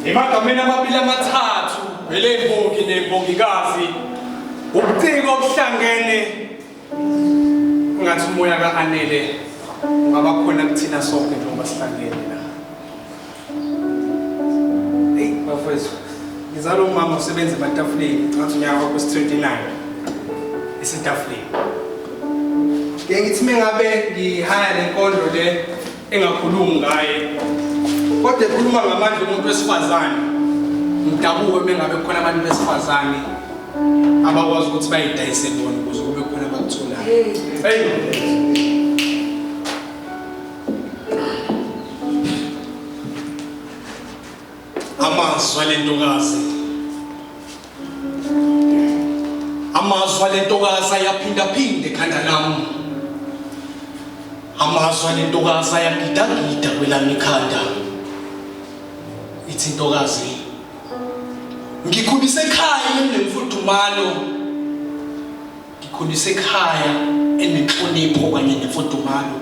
Emagameni amabili amathathu elembongi nembongikazi ubuciko obuhlangene ngathi umoya ka-anele ungaba khona kuthina sonke njengoba sihlangene la eyi bafowethu ngizala umama usebenza ematafuleni ngathi unyaka wakho si-29 esetafuleni ngiye ngithi mengabe ngihaya le nkondlo le engakhulumi ngaye kodwa ekhuluma ngamandla omuntu wesifazane ngidabuke uma ngabe kukhona abantu besifazane abakwazi ukuthi bayidayise bona ukuze kube khona abakutholayo amazwi alentokazi amazwi ale ntokazi ayaphindaphinde ekhanda lami amazwi ale ntokazi ayagidagida kwelami ikhanda ithi intokazi ngikhulise ekhaya nemfudumalo Ngikhuliswe ekhaya elinenhlonipho kanye nemfudumalo.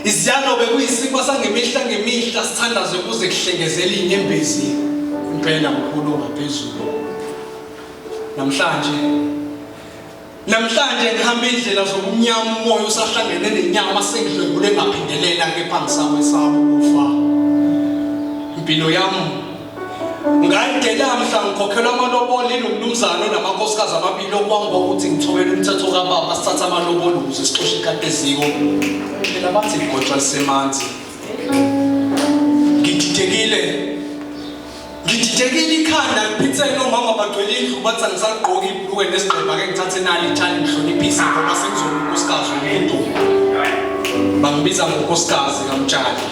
Iziyalo bekuyisiko sangemihla ngemihla sithandaze ukuze kuhlengezele inyembezi impela mkhulu ongaphezulu. Namhlanje Namhlanje ngihamba indlela zobumnyama umoya usahlangene nenyama sengidlwengule ngaphindelela kepha ngisawesaba ukufa. Impilo yami Ngayide lamhla ngikhokhelwa amalobolo inomnumzane onamakhosikazi amabili okwangiba ukuthi ngithobela umthetho kababa sithatha amalobolo ukuze sixoshe ikati eziko. Phela bathi igotshwa lisemanzi. Ngididekile. Ngididekile ikhanda ngiphithele nomama bagcwele indlu bathi angisagqoki ibhulukwe nesigqeba ke ngithathe nali ithali ngihloniphise ngoba sengizoba unkosikazi womuntu. Bangibiza ngonkosikazi kamtshali.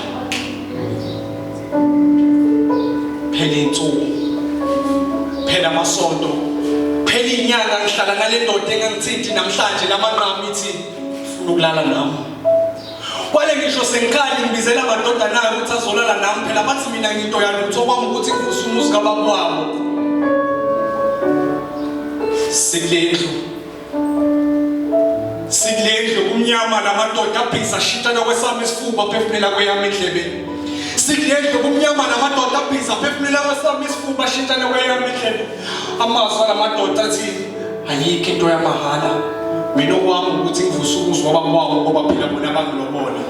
phela insuku phela amasonto phela inyanga ngihlala nale ndoda engangithinti namhlanje lamanqamu ithi funa ukulala nami kwale ngisho sengikhali ngibizela amadodana ayo ukuthi azolala nami phela bathi mina nginto yalutho kwami ukuthi ngivuse umuzi kababa wabo sikulendlu sikulendlu kumnyama lamadoda abhiza ashintshana kwesami isifuba aphefumela kweyami endlebeni sikulendlu kumnyama lamadoda abhiza aphefumela kwesami isifuba ashintshana kweyami endlebeni amazwi alamadoda athi ayikho into yamahhala mina okwami ukuthi ngivuse ukuzwa obaba wabo ngoba phela bona bangilobole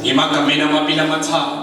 emagameni amabili amathathu